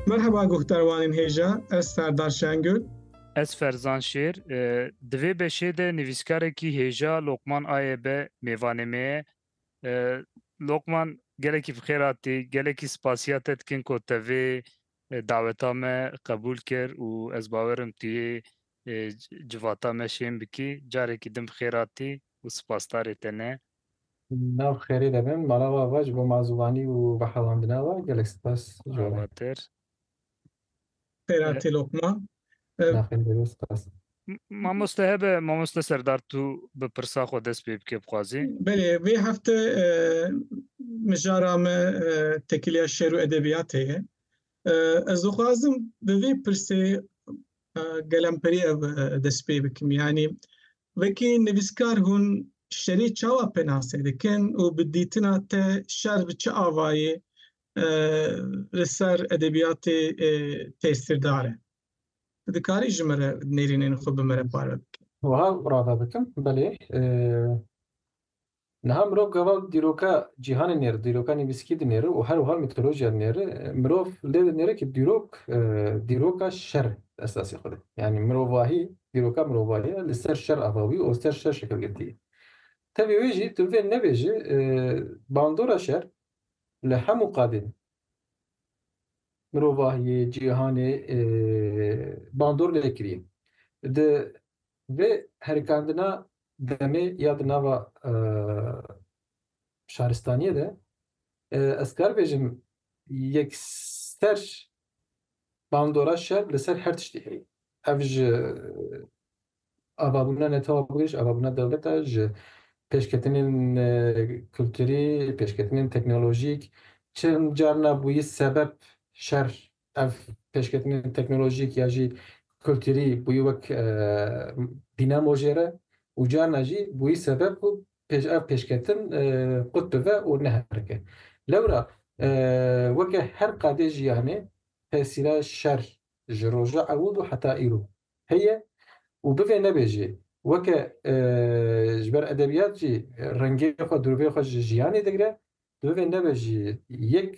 Merhaba guhdarwanên hêja, ez Serdar Şengül. Ez Ferzan Şêr. Di vê beşê de nivîskarekî hêja Lokman Aye be mêvanê me ye. Lokman gelekî bi xêr hatî, gelekî spasiya te dikin ku te vê daweta me qebûl kir û ez bawer im tu yê civata me şên bikî. Carekî din bi xêr hatî û spasdarê te ne. Nav xêrê de bin. Mala we va ji bo mazûvanî û vehewandina we gelek spas ji we. Avater. Xêratê Lokman. Nafên bêrê spas. Mamoste hebe, mamoste Serdar tu bi pirsa xwe dest pê bike bixwazî? Belê, vê hefte mijara me tekiliya şêr û edebiyatê ye. Ez dixwazim bi vê pirsê gelemperî ev dest pê bikim. Yanî Wekî nivîskar hûn şerî çawa penase dikin û bi dîtina te şer bi çi avayê li ser edebiyatê tesîrdar e? Tu dikarî ji min re nêrînên xwe bi min re parve bikî? Wiha rave bikim, belê. Niha mirov gava dîroka cîhanê nêr, dîroka nivîskî dinêre û herwiha mîtolojiya nêr mirov lê dinêre ku dîrok dîroka şer e di esasê xwe de. Yanî mirovahî, dîroka mirovahî ye li ser şer ava bûye û li ser şer şekil girtiye. Tevî wê jî tu bivê nebêje bandora şer li hemû qadên mirovahiyê, cîhanê bandor lê kiriye. Di vê herikandina Demê ya di nava şaristaniyê de ez kar bêjim yekser bandora şer li ser her tiştî heye. Ev ji avabûna netewabûyê, ji avabûna dewleta, ji pêşketinên kulturî, pêşketinên teknolojîk, çend carna bûyî sebeb şer Ev pêşketinên teknolojîk ya jî kulturî bûyî wek dînamo jê re û carna jî bûyî sebeb ku ev pêşketin qut bive û neherike. Lewra weke her qadê jiyanê tesîra şer ji roja ewil û heta îro heye û bivê nebe jî weke ji ber edebiyat jî rengê xwe dirûvê xwe ji jiyanê digire, divê nebe jî yek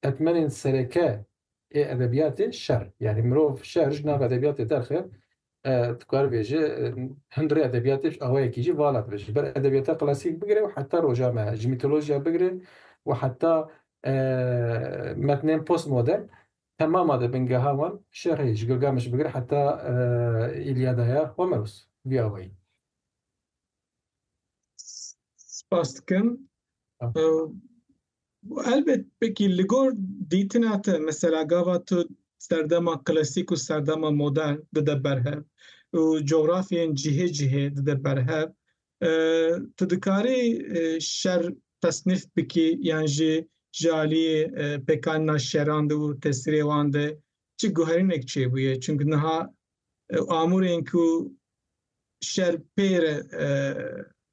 Etmenên sereke ê edebiyatê şer, yanî mirov şer ji nav edebiyatê derxe, tu kar bê ji hundirê edebiyatê ji awayekî jî vala dibe. Ji ber edebiyata klasîk bigire û heta roja me, ji mîtolojiya bigire û heta metnên postmodern temama di bingeha wan şer heye. Ji Gilgameş bigire heta Îlyada ya Homeros vî awayî. Spas dikim. Helbet pekî li gor dîtina te mesela gava tu serdema klasîk û serdema modern dide berhev û cografyeyên cihê cihê dide berhev tu dikarî şer tesnîf bikî yan jî ji aliyê pêkanîna şeran de û tesîrê wan de çi guherînek çêbûye çimkî niha Amûrên ku şer pê re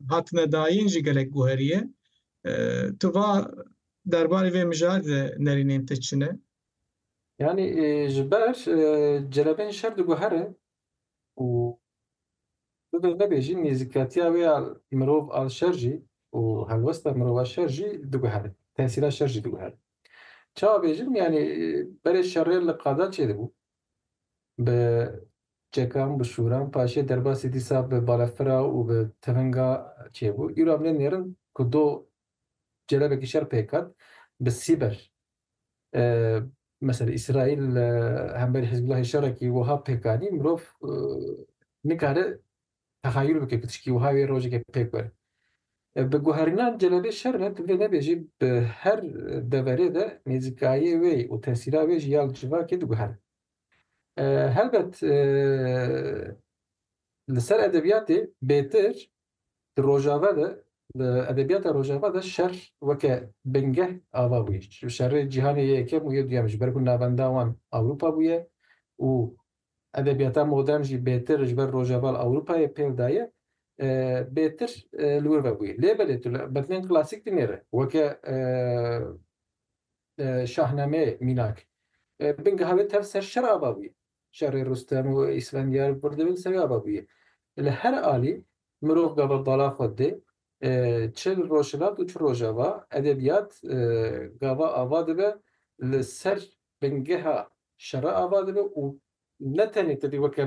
hatine dayîn jî gelek guherî ye. Tu va derbarê vê mijarê de nerînên te çi ne? Yanî ji ber celebên şer diguherin û bibe nebe jî nêzîkatiya wê ya mirov a şer jî û helwesta mirova şer jî diguherin, tesîra şer jî diguherin. Çawa bêjim yanî berê şerê li qada çêdibû bi çekan, bi şûran paşê derbasî dîsa bi balefira û bi tiringa çêbû. Îro em nênêrin ku do celebekî şer pêk hat bi sîber. Mesela Îsraîl hemberî Hizbûllahê şerekî wiha pêk anî, mirov nikare Tehayul bike ku tiştî wiha wê rojeke pêk were. Bi guherînan celebê şer re divê nebêjî bi her deverê de nêzîkayê wê û tesîra wê ji ya li civakê diguhere. Helbet li ser edebiyatê bêtir di rojava de li edebiyata rojava de şer weke bingeh ava bûye. Şerê cîhanê yê yekem û yê duyem ji ber ku navenda wan Ewropa bûye û Edebiyata modern jî bêtir ji ber rojaval Ewropayê pêv daye, bêtir li wir ve bûye. Lê belê tu li betnên klasîk dinêre weke şahnameyê mînak. Bingeha wê tev ser şer ava bûye. Şerê Rustem û Îsfendiyar pir di bin serê ava bûye. Li her alî mirov gava bala xwe dê, çi li rojhilat û çi rojava edebiyat gava ava dibe li ser bingeha şera ava dibe û ne tenê tevî weke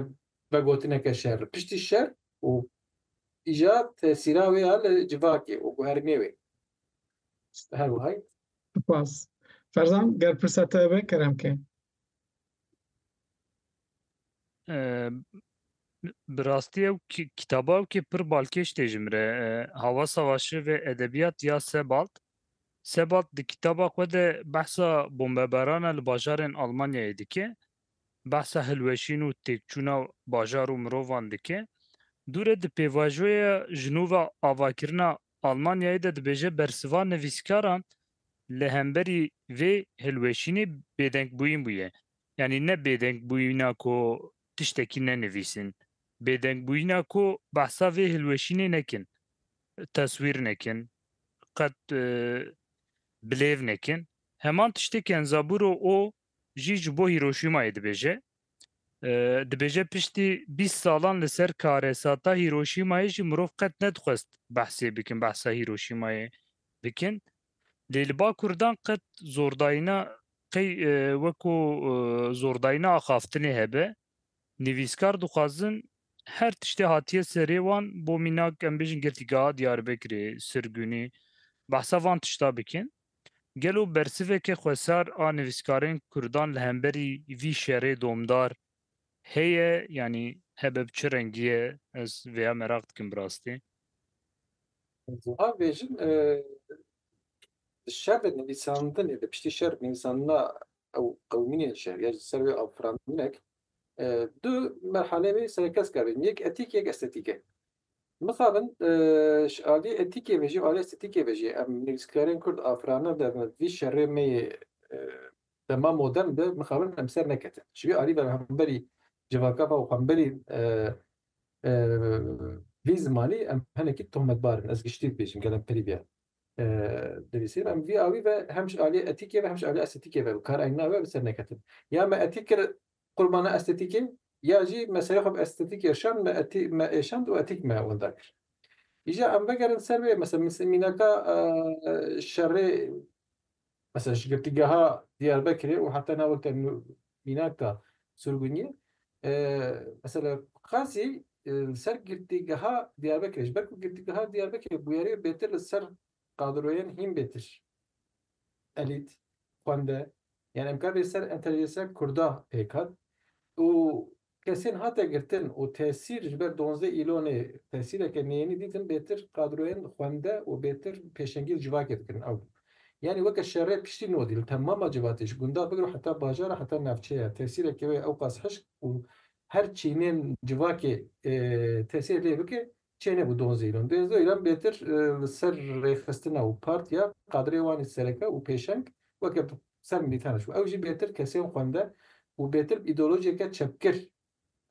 vegotineke şer, piştî şer û îja tesîra wê ya li civakê û guherînê wê bi her wiha ye. Spas. Ferzan, ger pirsa te be kerem ke. Bi rastî ew kîtaba ew kê pir balkêş tê ji min re. Havasa Waşirîvê Edebiyat ya Sebald. Sebald di kîtaba xwe de behsa bombebarana li bajarên Almanyayê dike. Behsa hilweşîn û têkçûna bajar û mirovan dike. Dûre di pêvajoya ji nûve avakirina Almanyayê de dibêje bersiva nivîskaran li hemberî vê hilweşînê bêdengbûyîn bûye. Yanî ne bêdengbûyîna ku tiştekî nenivîsîn, bêdengbûyîna ku behsa vê hilweşînê nekin, teswîr nekin, qet bilêv nekin. Heman tiştê Kenzaburo O jî ji bo Hîroşîmayê dibêje. Dibêje piştî bîst salan li ser karesata Hîroşîmayê jî mirov qet nedixwest behsê bikin, behsa Hîroşîmayê bikin. Lê li ba Kurdan qet zordayîna qey weko zordayîna axaftinê hebe, nivîskar dixwazin her tiştê hatiye serê wan bo mînak em bêjin girtîgeha Diyarbekirê, Sirgunî behsa van tişta bikin. Gelo bersiveke xwesar a nivîskarên Kurdan li hemberî vî şerê domdar Heye yanî hebe bi çi rengî ye ez vêya meraq dikim bi rastî. Ez wiha bêjim di şer de nivîsandinê de piştî şer nivîsandina ew qewimînên şer ya ji ser wê afirandinek du merhale wê serekesk a bên yek etîk yek estetîk e. Mixabin ji aliyê etîkê ve jî û aliyê estetîkê ve jî em nivîskarên kurd afirandin dibin vî şerê me yê Dema modern be mixabin em ser neketin. Ji vî alî ve hemberî civaka ve û hemberî vî zimanî em hinekî tohmetbar in. Ez giştî dibêjim gelek perîviya dinivîsîn. Em vî awî ve hem ji aliyê etîkê ve hem ji aliyê estetîkê ve bi kar eyn nabe bi ser neketin. Ya me etîk kir qurbana estetîkê ya jî me serê xwe bi estetîk êşand me etî me êşand û etîk me winda kir. Îja em vegerin ser wê mesela mînaka şerê Mesela ji girtîgeha Diyarbekirê û heta nava te mînaka Surguniyê mesela qasî li ser girtîgeha Diyarbekirê ji ber ku girtîgeha Diyarbekirê bûyerê bêtir li ser qadroyên hîn bêtir elît, xwende yan em kar bê ser entelijênsiya kurda pêk hat û Kesên hate girtin û tesîr ji ber Donzdeh Îlonê tesîreke neyênî dîtin bêtir kadroyên xwende û bêtir pêşengî li civakê dikirin ew yanî weke şerê piştî nodî li temama civatê ji gundar bigiro heta bajara heta navçeya tesîrekê wê ewqas hişk û her çînên civakê tesîr lê bike Çênebû Don Zeyran. Don Zeyran bêtir li ser rêxistina û partiya Qadirê Wanê sereke û pêşeng weke bi ser milîtaneş bû. Ew jî bêtir kesên xwende û bêtir bi îdeolojiyeke çepgir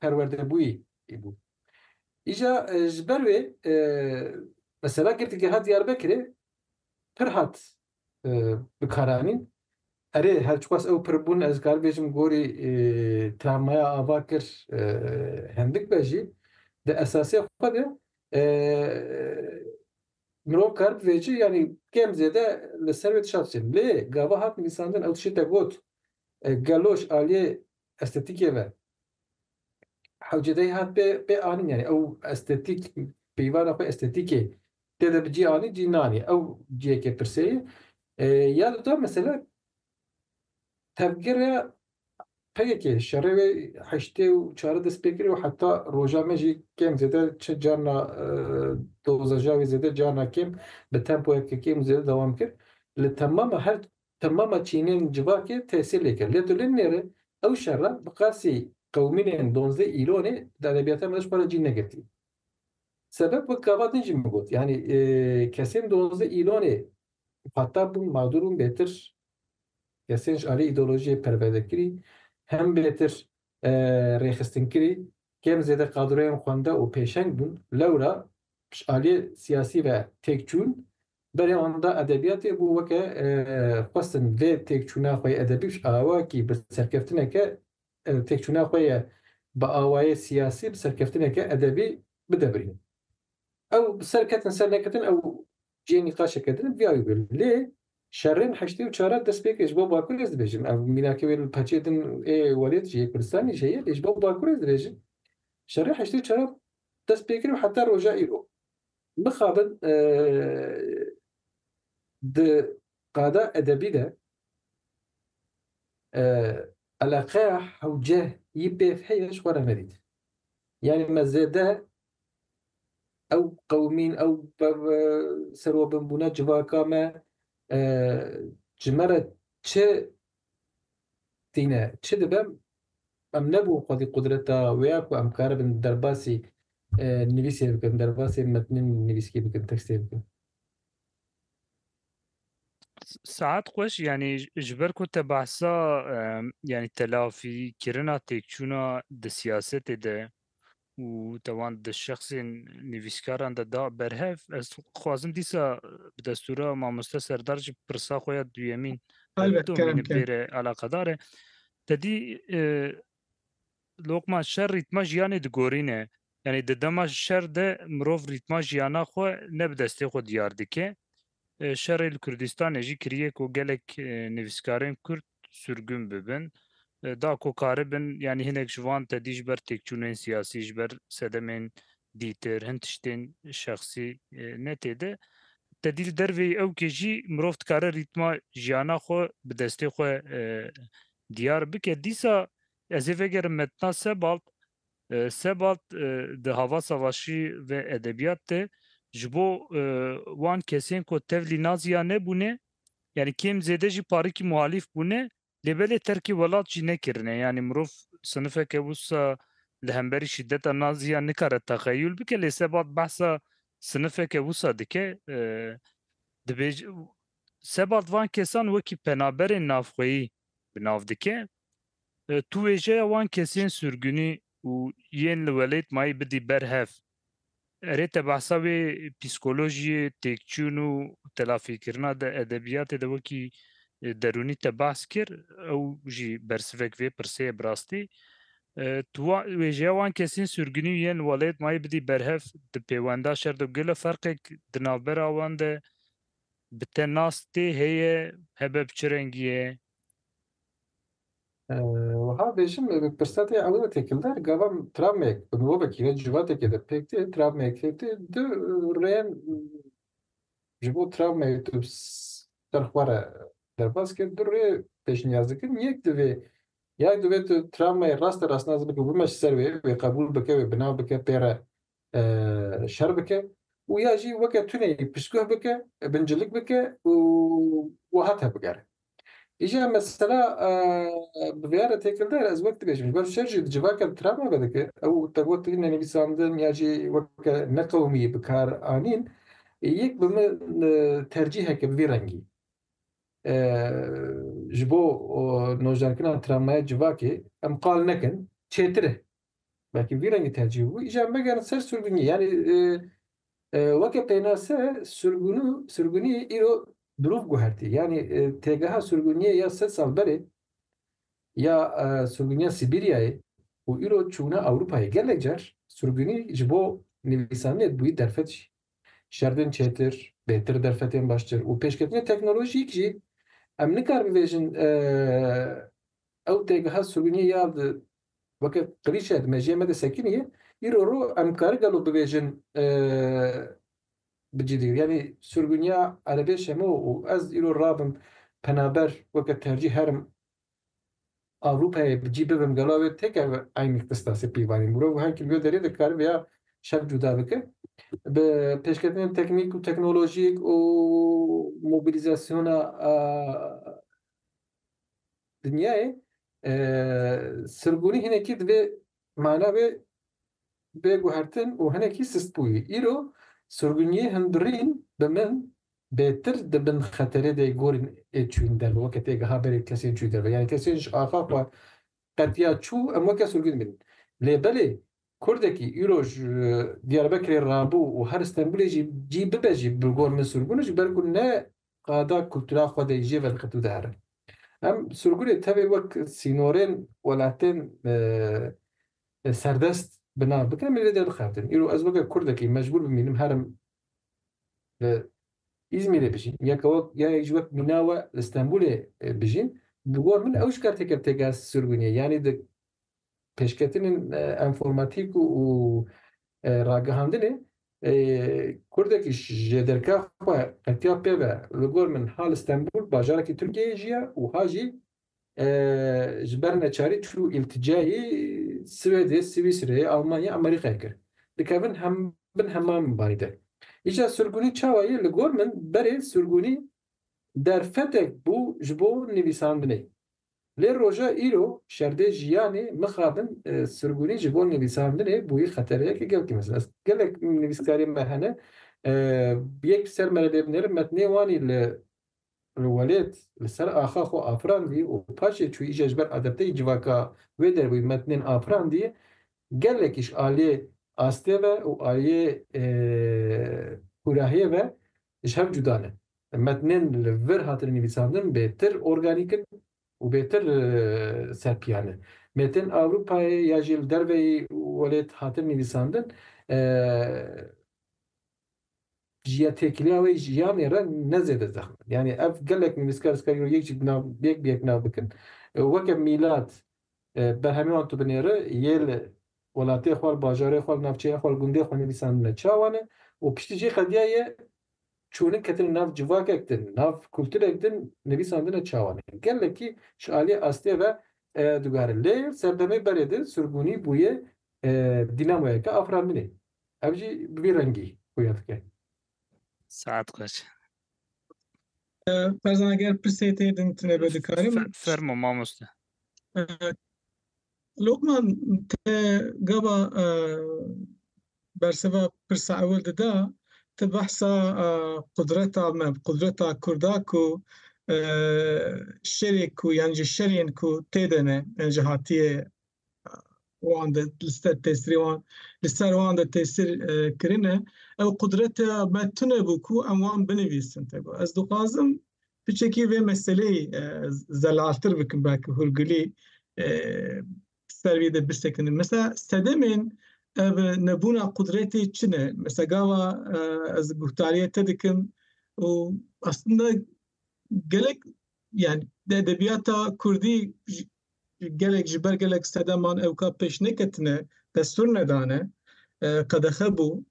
perwerdebûyî bû. Îja ji ber wê mesela girtîgeh a Diyarbekirê pir hat bikaranîn. Erê her çiqas ew pir bûn ez kar bêjim gorî travmaya ava kir hindik be jî di esasê xwe de mirov kar bivê ci yanî kêm zêde li ser wê tişa dişê. Lê gava hat nivîsandin ew tişê te got geloş aliyê estetîkê ve Hewcedeyê hat pê pê anîn yanî ew estetîk peyvana xwe estetîkê tê de bi cî anî cî nanî ew ciyekê pirseyê ya duda mesela tevgere peyekê şerê wê heştê û çarê dest pê kiriye û heta roja me jî kêm zêde çi carna dozaja wê zêde carna kêm bi tempoyeke kêm û zêde dewam kir li temama her Temama çînên civakê tesîr lê kir. Lê tu lê nêri ew şerra bi qasî qewmînên donzdeh îlonê di edebiyata me de ji xwe re cî negirtî. Sebeb wek gava din jî min got, yanî kesên donzdeh îlonê muxatab bûn, madur bûn bêtir, kesên ji aliyê îdeolojiyê perwerdekirî, hem bêtir rêxistinkirî, kêm zêde kadroyên xwende û pêşeng bûn, lewra ji aliyê siyasî ve têk çûn, Berê anda edebiyatê bû weke xwestin vê têkçûna xwe yê edebî bi awakî bi serkeftineke têkçûna xwe yê bi awayê siyasî bi serkeftineke edebî bide birîn. Ew bi ser ketin ser neketin ew cihê nîqaşeke din e bi awî bir. Lê şerên heştê û çar re dest pê kir ji bo Bakur ez dibêjim. Ev mînakê wê li peçê din ê welêt jî yê Kurdistanê jî heye lê ji bo Bakur ez dibêjim şerê heştê û çar re dest pê kir û heta roja îro. Mixabin di qada edebî de eleqeya hewceh yî pêv heye ji xwe re nedît. Yanî me zêde ew qewimîn, ew serobinbûna civaka me ji me re çi tîne. Çi dibe em nebû xwedî qudreta wê ya ku em karibin derbasî nivîsê bikin, derbasî metnên nivîskî bikin, tekstê bikin. Saet xweş yanî ji ber ku te behsa yanî telafîkirina têkçûna di siyasetê de û te wan di şexsên nivîskaran de da berhev. Ez dixwazim dîsa bi destûra mamoste Serdar jî pirsa xwe ya duyemîn Elbet, domîne kerem, kerem. bêre alaqedar e. Te dî e, lokman şer rîtma jiyanê digorîne. Yanî di dema şer de mirov rîtma jiyana xwe ne bi destê xwe diyar dike. Şerê li Kurdistanê jî kiriye ku gelek nivîskarên Kurd surgûn bibin. Da ku karibin yanî hinek ji wan tedî ji ber têkçûnên siyasî, ji ber sedemên dîtir, hin tiştên şexsî ne tê de. Tedî li dervê ewkê jî mirov dikare rîtma jiyana xwe bi destê xwe diyar bike. Dîsa ez ê vegerim Metna Sebald Sebald di hava savaşî ve edebiyat de ji bo wan kesên ku tevlî nazî ya nebûne yanî kêm zêde jî parikî muhalîf bûne lê belê terkê welat jî nekirine yanî mirov sinifeke wisa li hemberî şîdeta nazî ya nikare texeyul bike lê Sebald behsa sinifeke wisa dike dibêje Sebald van kesan wekî penaberên navxweyî bi nav dike. Tu wêjeya wan kesên surgunî û yên li welêt mayî bidî ber hev. Erê te behsa wê psîkolojiyê, têkçûn û telafîkirina di edebiyatê de wekî derûnî te behs kir, ew jî bersivek vê pirsê ye bi rastî. Tu wêjeya wan kesên surgunî û yên li welêt mayî bidî ber hev di pêwenda şer de gelo ferqek di navbera wan de bi te nas tê heye hebe bi çi rengî ye? Wiha bêjim bi pirseta ew re têkildar gava travmeyek bi mirovekî ve civatekê de pêk tê travmeyek tê tê du rêyên ji bo travmeyê tu bi ser xwe re derbas kir du rê pêşniyaz dikim yek divê ya divê tu travmeyê raste rastnaz bikî û bimeşî ser wê wê qebûl bike wê bina bike pê re şer bike û ya jî weke tuneyî piştguh bike, bincilik bike û wiha tevbigere. Îja mesela bi vêya re têkil der, ez wek dibêjim ji ber şer jî di civaka li Trabzon ve dike, ew tevgotên tune nivîsandin ya jî weke neqewimî bikar anîn, yek bi min tercîheke bi vî rengî ji bo nojdarkirina travmaya civakê em qal nekin çêtir e. Belkî vî rengî tercîh bû. Îcar megerin ser surgunî. Yanî weke pênase surgunû surgunî îro dirûv guhertî. Yanî têgeha surgunîyê ya sed sal berê ya surgunîya Sîbîryayê û îro çûna Ewropayê gelek car surgunî ji bo nivîsaniyek bûyî derfet jî. Şerdên çêtir, bêtir derfetên baştir û pêşketinê teknolojîk jî em nikar bivêjin ew têgeha surgunîyê ya di Weke qirîçe di mejiyê me de sekiniye, îro ro em kari gelo bibêjin bi cî digir. Yanî surguniya erebê şemo û ez îro rabim penaber weke tercîh herim Ewropayê bi cî bibim gelo ew ê têkeve eynî qistasê pîvanî. Mirov her kî li wê derê de kari vêya şev cuda bike. Bi pêşketinên teknîk û teknolojîk û mobilîzasyona Dinyayê sirbûnî hinekî divê mana bê bê guhertin û hinekî sistbûyî. Îro sirbûniyê hin birîn bi min bêtir di bin xeterê de yê gorên ê çûyîn derve weke tê giha berê kesên çûyî derve. Yanî kesên ji axa xwe qetiya çû em weke sûrgû dimînin. Lê belê Kurdekî îro ji Diyarbekirê rabû û her Stenbûlê jî cî bibe jî bi gor min sûrgûn e ji ber ku ne qada kultura xwe de jê vedixit û dihere. Em sûrgûnê tevê wek sînorên welatên serdest bi nav bikin em ê lê derdixebitin. Îro ez weke Kurdekî mecbûr bimînim herim li Îzmîrê bijîn ya ke wek ya yek ji wek mîna we li Stenbolê bijîn bi gor min ew ji karteke têgera sirgûniyê yanî di pêşketinên enformatîk û ragihandinê kurdekî ji derka xwe qetiya pê ve li gor min ha li Stenbol bajarekî Tirkiyeyê jiya û ha jî ji ber neçarî çû îltîcayê Swêdê, Swîsreyê, Almanyayê, Amerîkayê kir. Dikevin bin hema mibarî de. Îja surgunî çawa ye? Li gor min berê surgunî derfetek bû ji bo nivîsandinê. Lê roja îro şerdê jiyanê mixabin surgunî ji bo nivîsandinê bûyî xetereyeke gelkî mezin. Ez gelek nivîskariyên me hene yek bi ser me re lê binerin metnê wanî li Li welêt li ser axa xwe afirandî û paşê çû îşe ji ber adepteyî civaka wê derbûyî metnên afirandî gelekîş aliyê astê ve û aliyê kûrahiyê ve ji hev cuda ne. Metnên li vir hatine nivîsandin bêtir organîk in û bêtir serpiyan in. Mêtên Ewropayê ya jî li derveyî welêt hatin nivîsandin. Jiya têkiliya wê jiyanê re ne zêde zexm e. Yanî ev gelek nivîskar zikar îro yek jî bi nav yek bi yek nav bikin. Weke mîlat berhemê wan tu binêri yê li welatê xwe, li bajarê xwe, li navçeya xwe, li gundê xwe nivîsandine çawa ne û piştî jî qediya ye çûnin ketin nav civakek din, nav kulturek din nivîsandine çawa ne. Gelekî ji aliyê astê ve digare. Lê serdemê berê din sirgûnî bûye dînamoyeke afirandinê. Ev jî bi vî rengî xuya dike. Saet kaç? Ferzan eger pirsê tê din tine be dikarim. Fermo mamoste. Lokman te gava berseva pirsa ewil dida te behsa qudreta me qudreta kurda ku şerê ku yan ji şerên ku tê de ne yan ji hatiye wan de li ser tesirê wan li ser wan de tesir kirine ew qudrete me tune bû ku em wan binivîsin tego ez dixwazim piçekî vê meseleyê zelaltir bikim belki hûrgilî ser vî de birsekinim mesela sedemên ev nebûna qudretê çi ne mesela gava ez guhtariyê te dikim û aslında gelek Yani de edebiyata Kurdî gelek ji ber gelek sedeman ewka pêş neketine destûr nedane qedexe bû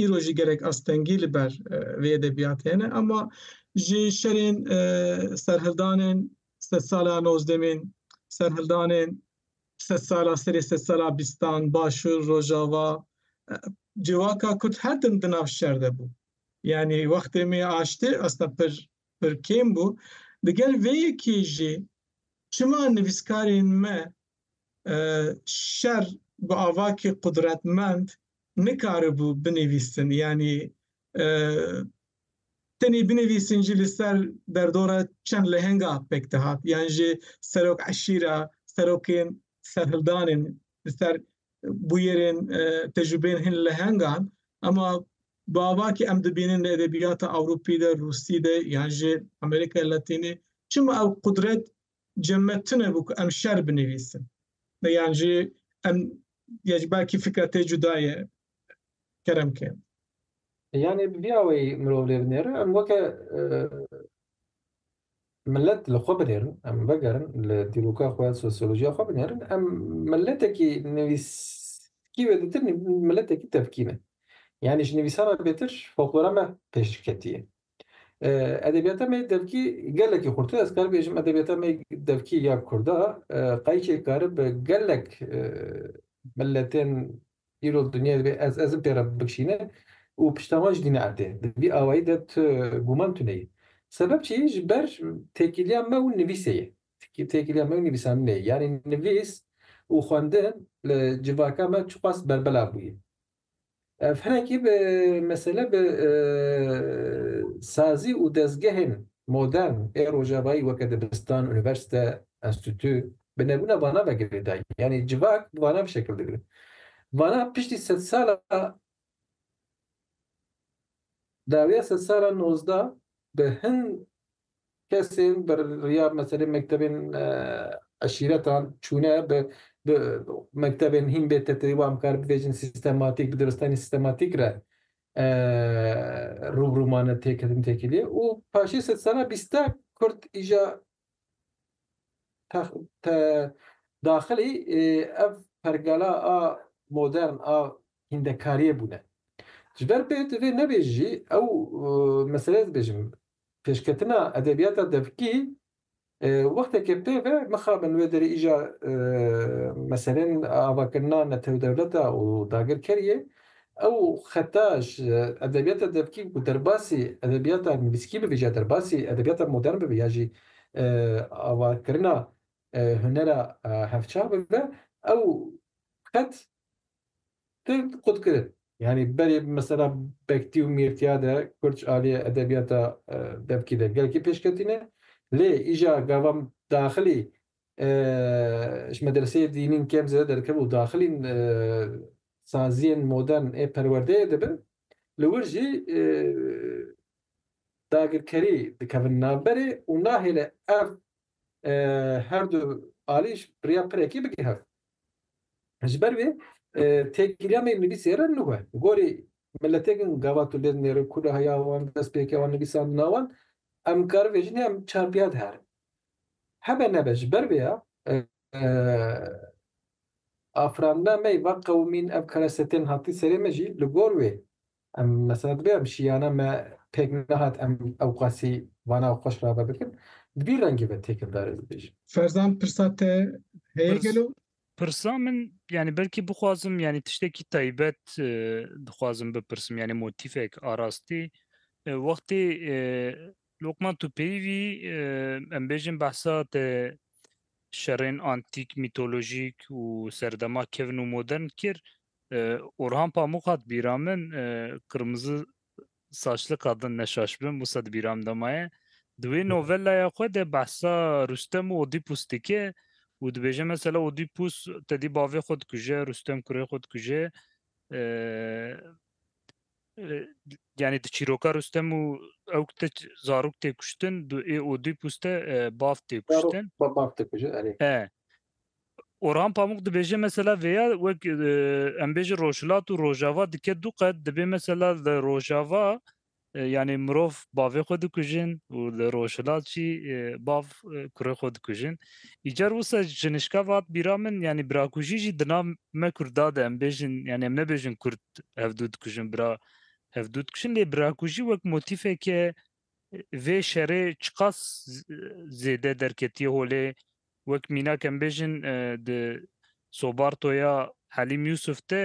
îro jî gerek astengî li ber vê edebiyatê hene ama ji şerên serhildanên sed sala nozdemîn serhildanên sed sala serê sed sala bîstan başûr rojava civaka kurd her tim di nav şer de bû. Yani wextê me aştê aslında pir pir kêm bû. Digel vê yekê jî çima nivîskarên me şer bi avakî qudretmend nikaribû binivîsin yanî tenê binivîsin jî li ser derdora çend lehenga pek dihat yan jî serok eşîra, serokên serhildanên li ser bûyerên tecrûbeyên hin lehengan ema bavakî em dibînin li edebiyata Ewropî de Rûsî de yan ji Amerîka Latînî çima ew qudret cemme tune bû ku em şer binivîsin me yan jî em ya ji belkî fikra te cuda ye kerem ke yanê bi vî awayî mirov lê binêre em weke Milet li xwe binêrin, em vegerin li dîroka xwe, sosyolojiya xwe binêrin, em miletekî nivîskî wê ditir miletekî tevkî ne. Yanî ji nivîsan re bêtir foklora me pêşketî ye. Edebiyata me devkî gelekî xurtir ez kar bêjim edebiyata me devkî ya kurda qayîkê karibe gelek miletên Îro dinya divê ez ez im pê re bikşîne û pişta wan jî dîne erdê. Di vî awayî de tu gûman tuneyî. Sebeb çi yê? Ji ber têkiliya me û nivîsê ye. Têkiliya me û nivîsandinê ye. Yanî nivîs û xwendin li civaka me çiqas berbelav bûye. Ev hinekî bi mesele bi sazî û dezgehên modern ê rojavayî weke dibistan, unîversîte, enstîtû, Bi nebûna vana me girê dayî. Yanî civak bi vana bi şekil digire. Vana piştî sedsala dawiya sedsala nozda bi hin kesên bi riya meselê mektebên eşîretan çûne bi bi mektebên hîn bê teteyî wan bikar bivêjin sîstematîk bi diristanî sîstematîk re rûbirû mane têketin têkiliyê û paşê sedsala bîsta kurd îja daxilî ev pergala a modern a hîndekariyê bûne. Ji ber pê tu vê nebêjî jî ew meseleyê dibêjim, pêşketina edebiyata devkî wexteke pê ve mixabe li wê derê îja meselên avakirina netewdewleta û dagirkeriyê Ew xeta ji edebiyata devkî ku derbasî edebiyata nivîskî bivî ya derbasî edebiyata modern bivî ya jî avakirina hunera hevçav bibe ew xet tu xwe dikirin. Yanî berê bi mesela Bektî û Mîrtîya de kurd ji aliyê edebiyata devkî de gelekî pêş ketîne lê îja gavan daxilî ji medreseyê dînîn kêm zêde derkeve û daxilîn saziyên modern ê perwerdeyê dibin, li wir jî dagirkerî dikevin navberê û nahêle ev her du alîj rêya pirekî bike hev. Ji ber wê têkiliya me yên nivîsê re nû e. Gorî miletêkin gavat û lêz nêrin ku li heya wan, destpêkê wan, nivîsandina wan em karibêjin ya em çarpiyad herin. Hebe nebe ji ber vê ya Afirandina me yê va qewimîn ev kereste tên hatî serê me jî li gor wê em mesela dibê em şiyana me pêk nehat em ewqasî vana û xweş rave bikin di vî rengê ve têkildar ez dibêjim. Ferzan pirsa te heye gelo? Pirsa min yanî belkî bixwazim yanî tiştekî taybet dixwazim bipirsim yanî motîfek arastî wextê Lokman tu peyvî em bêjin behsa te şerên antîk, mîtolojîk û serdema kevn û modern kir. Orhan Pamuk hat bîra min qirmizi saçli qadin neşaş bin wisa di bîra min de maye. Di wê novelaya xwe de behsa Rustem û Odîpus dike û dibêje mesela Odîpus tedî bavê xwe dikuje, Rustem kurê xwe dikuje. Yanî di çîroka Rustem û ewk de zarok tê kuştin, du ê Odîp û ste bav tê kuştin. Bav tê kuştin, erê. E. Orhan Pamuk dibêje mesela vêya wek em bêje Rojhilat û Rojava dike du qet dibê mesela li Rojava yanî mirov bavê xwe dikujin û li Rojhilat jî bav kurê xwe dikujin. Îcar wisa ji nişka vat bîra min yanî birakujî jî di nav me Kurda de em bêjin yanî em nebêjin Kurd ev du dikujin bira ev du dikujin lê birakujî wek motîfeke vê şerê çiqas zêde derketiye holê wek mînak em bêjin di sobartoya Helîm Yusuf te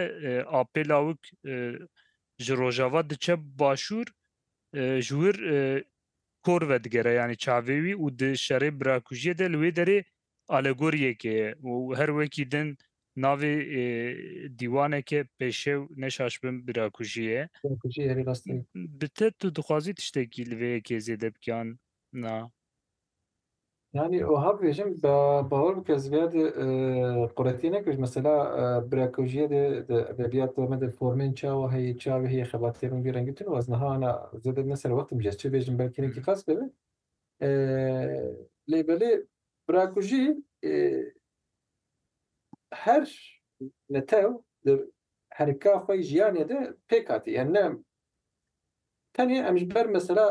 apê lawik ji rojava diçe başûr ji wir kor vedigere yanî çavê wî û di şerê birakujiyê de li wê derê Alegoriyeke ye û her wekî din navê dîwaneke pêşew neşaşbin birakujî ye. Birakujî herî rastî ye. Bi te tu dixwazî tiştekî li vê yekê zêde bikiyan na? Yanî wiha bibêjim bawer bike ez vêya de quretî nekir ji mesela birakujîye de di edebiyata me de formên çawa heye çavê heye xebatê min vî rengî tune û ez niha na zêde ne serwextim jî ez çi bêjim belkî hinek îqaz bibe Lê belê bira ku jî her netew di herika xwe yê jiyanê de pêk hatî yani ne tenê em ji ber mesela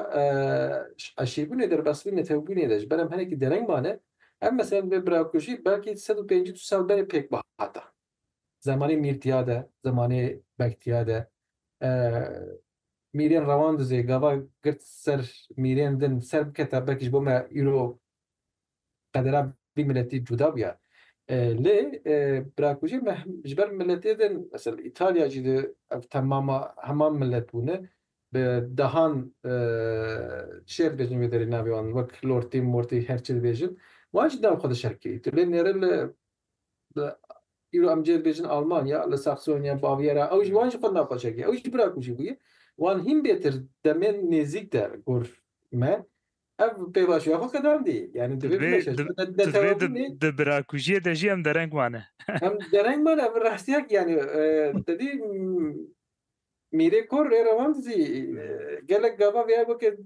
eşîrbûnê derbasbûnê netewbûnê de ji ber em hinekî dereng mane em mesela divê bira ku jî belkî sed û pêncî du sal berê pêk bihata Zemanê mîr tiya de, zemanê beg tiya de. Mîrên rewan duzê gava girt ser mîrên din ser biketa belkî ji bo me îro qedera vî miletî cuda bûya. Lê birakujê me ji ber miletê din mesela Îtalya jî de ev temama heman milet bûne bi dehan çiye dibêjin vê derê navê wan wek lortî mortî her çi dibêjin wan jî nav xwe dişerkirî. Tu lê nêrî li Li îro em cêr bêjin Almanya li Saxonya, Bavyera ew jî wan jî xwe naqaşek e. Ew jî bira ku jî bûye wan hîn bêtir demên nêzîk de gor me. Ev pêvajoya xwe qedandî. Yanî divê bimeşe. Di vê di birakujiyê de jî em dereng mane. Em dereng mane ev rastiyek yanî te dî Mîrê Kor rê rewand zî gelek gava vêya weke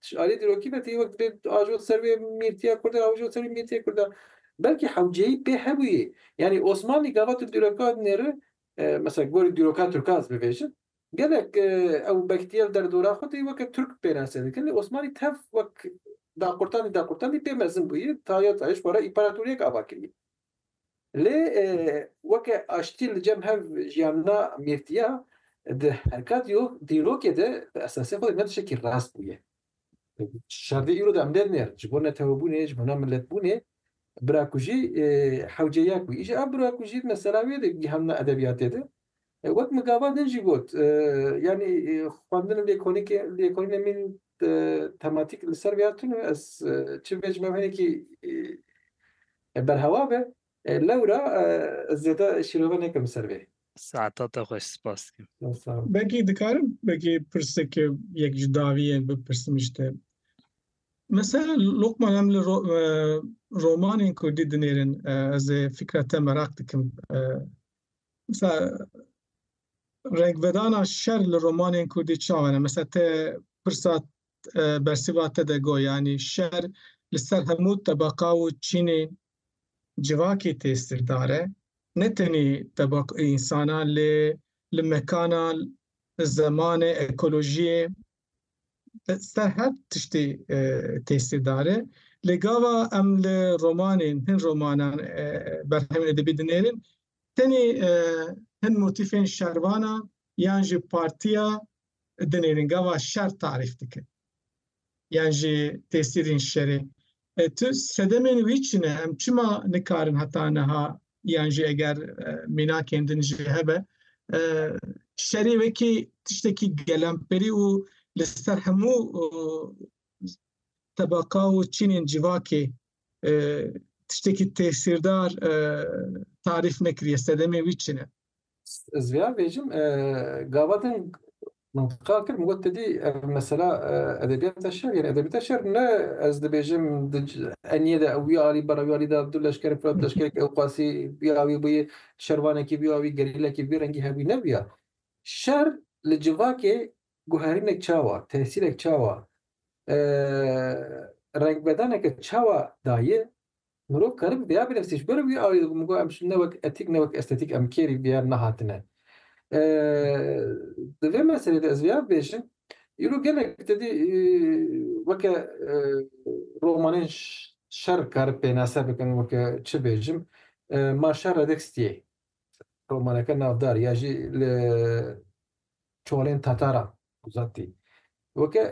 Ji aliyê dîrokî ve tê wek divê ajot ser wê mîrtiya kurd e, ajot ser wê mîrtiyê kurd e. Belkî hewceyî pê hebûyê. Yanî Osmanlî gava tu dîroka nêri, mesela gorî dîroka tirkan ez bivêjim, gelek ew bektiyev derdora xwe tê weke tirk pênase dikin. Lê Osmanlî tev wek daqurtandî daqurtandî pê mezin bûyî, taye taye ji xwe re împaratoriyek ava kirî. Lê weke aştî li cem hev jiyana mîrtiya di herka dîrokê de bi esasê xwe ne tiştekî rast bûye. Şerdê îro de em dê nêr ji bo netewebûnê, ji bo namiletbûnê birakujî hewce ya ku îşa birakujî mesela wê de gihanina edebiyatê de Wek migava din jî got, yanî xwendin û lêkolînkê lêkolînên min tematîk li ser vê hatin û ez çi bê ji me hinekî berhewa be lewra ez zêde şîrove nekim li ser vê. Saeta te xweş spas dikim. Belkî dikarim belkî pirsek yek ji dawiyên bipirsim ji te. Mesela Lokman em li romanên kurdî dinêrin ez ê fikra te meraq dikim Mesela renkvedana şer li romanên Kurdî çawa ne? Mesela te pirsa e, bersîva te de got yanî şer li ser hemû tebeqa û çînên civakê têsîrdar e. Ne tenê tebaq insana lê li mekana, zemanê, ekolojiyê Ser her tiştê têsîrdar e. Lê gava em li romanên, hin romanan berhemên edebî dinêrin, tenê hin motîfên şervanan yan jî partiya dinêrin. Gava şer tarîf dikin yan jî têsîrên şerê. E, tu sedemên wî çi ne? Em çima nikarin heta niha yan jî eger e, mînakên din jî hebe e, şerî wekî tiştekî gelemperî û li ser hemû tebaka û çînên civakê e, tiştekî tesîrdar e, tarîf nekiriye sedemê wî çi ne? Ez vêya bêjim, gava din mintiqa kir, min got ti dî ev mesela edebiyata şer yên. Edebiyata şer ne ez dibêjim eniyê de wî alî bera wî alî de du leşkerê filat leşkerek ew qasî bîya wî bûyê şervanekî bîya wî gerîlekî bi vî rengî hebûyî ne bûya. Şer li civakê guherînek çawa, tesîrek çawa, rengbedaneke çawa dayê Mirov keribû vêya bilefsî ji ber wî awê dibû min got em ne wek etîk ne wek estetîk em kêrî vêya nehatine. Di vê meselê de ez vêya bibêjim îro gelek tedî weke romanên şer karib pênase bikin weke çi bêjim Ma şer re dek stiyê romaneke navdar ya jî li çolên Tataran Zatî. Weke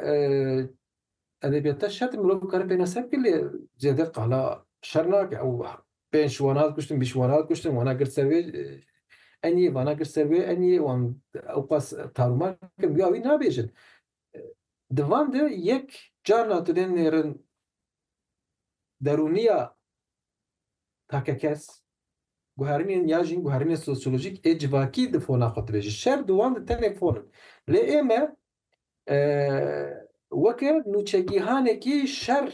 edebiyata şer mirov bikare pêna ser bike lê zêde qala şer nake ew pênc wana kuştin bîst wana kuştin wana girt ser wê eniyê wana girt ser wê eniyê wan ew qas tarûma kirin ya wî nabêjin di van de yek carna tu dê nêrin derûniya takekes, guherînên ya jîn guherînên sosyolojîk ê civakî di fona xwe dibêjin. Şer di wan de tenê fon in. Lê ême weke nûçegîhanekî şer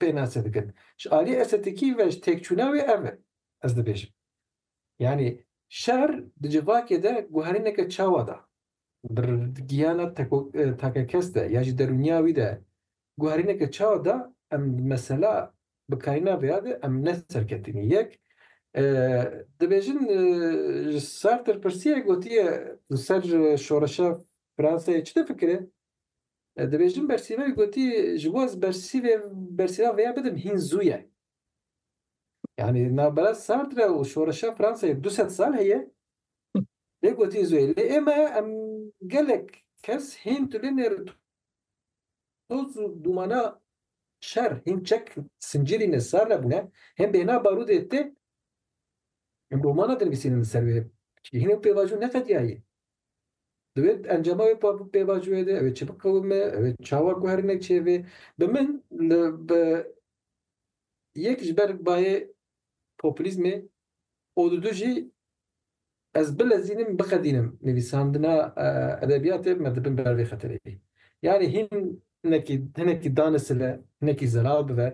pênase dikin. Ji aliyê estetîkî ve ji têkçûna wê ev e ez dibêjim. Yanî şer di civakê de guherîneke çawa da. Bi giyana takekes de ya jî derûniya wî de guherîneke çawa da em bi mesela bikarîna vê ya de em ne serketinî yek dibêjin ji Sartre pirsiye gotiye li ser şoreşa Fransayê çi difikire? Dibêjin bersîva wî gotî ji bo ez bersîvê bersîva vê ya bidim hîn zû ye. Yanî navbera Sartre û şoreşa Fransayê du sed sal heye Lê gotî zûyê lê ê me em gelek kes hîn tu lê nêr toz û dûmana şer hîn çek sincîrî ne sar nebûne hên bêhna barûdê tê em romana dinivîsînin li ser wê çikî hîn ew pêvajo neqediyayê di wê encama wê pêvajoyê de ew ê çi biqewime ew ê çawa guherîne çêvê bi min li bi yek ji ber bayê populîzmê û didu jî ez bilezînim, biqedînim nivîsandina edebiyatê me dibin ber vê xetereyê. Yanî hinekî hinekî danisile, hinekî zelal bibe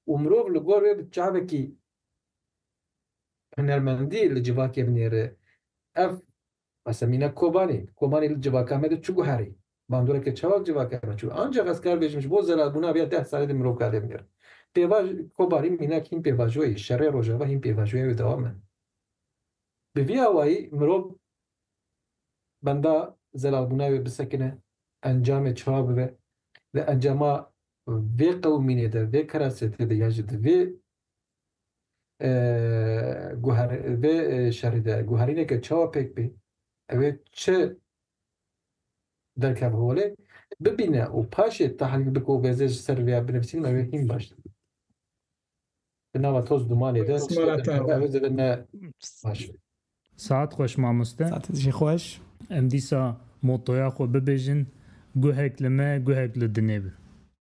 û mirov li gor wê bi çavekî hunermendî li civakê binêre. Ev Asemîne Kobanî, Kobanî li civaka me de çi guherî? Bandoreke çawa li civaka me çû? Anca xes kar bêjim ji bo zelalbûna vê ya deh salê de mirov kade bigere. Pêvaj, Kobanî mînak hîn pêvajoyê ye, şerê rojava hîn pêvajoya wê dewam e. Bi vî awayî mirov benda zelalbûna wê bisekine, encamê çawa bibe, di encama vê qewimînê de, vê kerasetê de yan jî di vê Vê şerî de guherîneke çawa pêk bê, ew ê çi derkeve holê, bibîne û paşê tehlîl bike û vêzê ji ser vê ya binivîsîn ew ê hîn baş dibe. Di nava toz dumanê de çi derkeve ew ê zêde ne baş be. Saet xweş mamoste. Saet jî xweş. Em dîsa motoya xwe bibêjin, Guhek li me, guhek li dinê bi.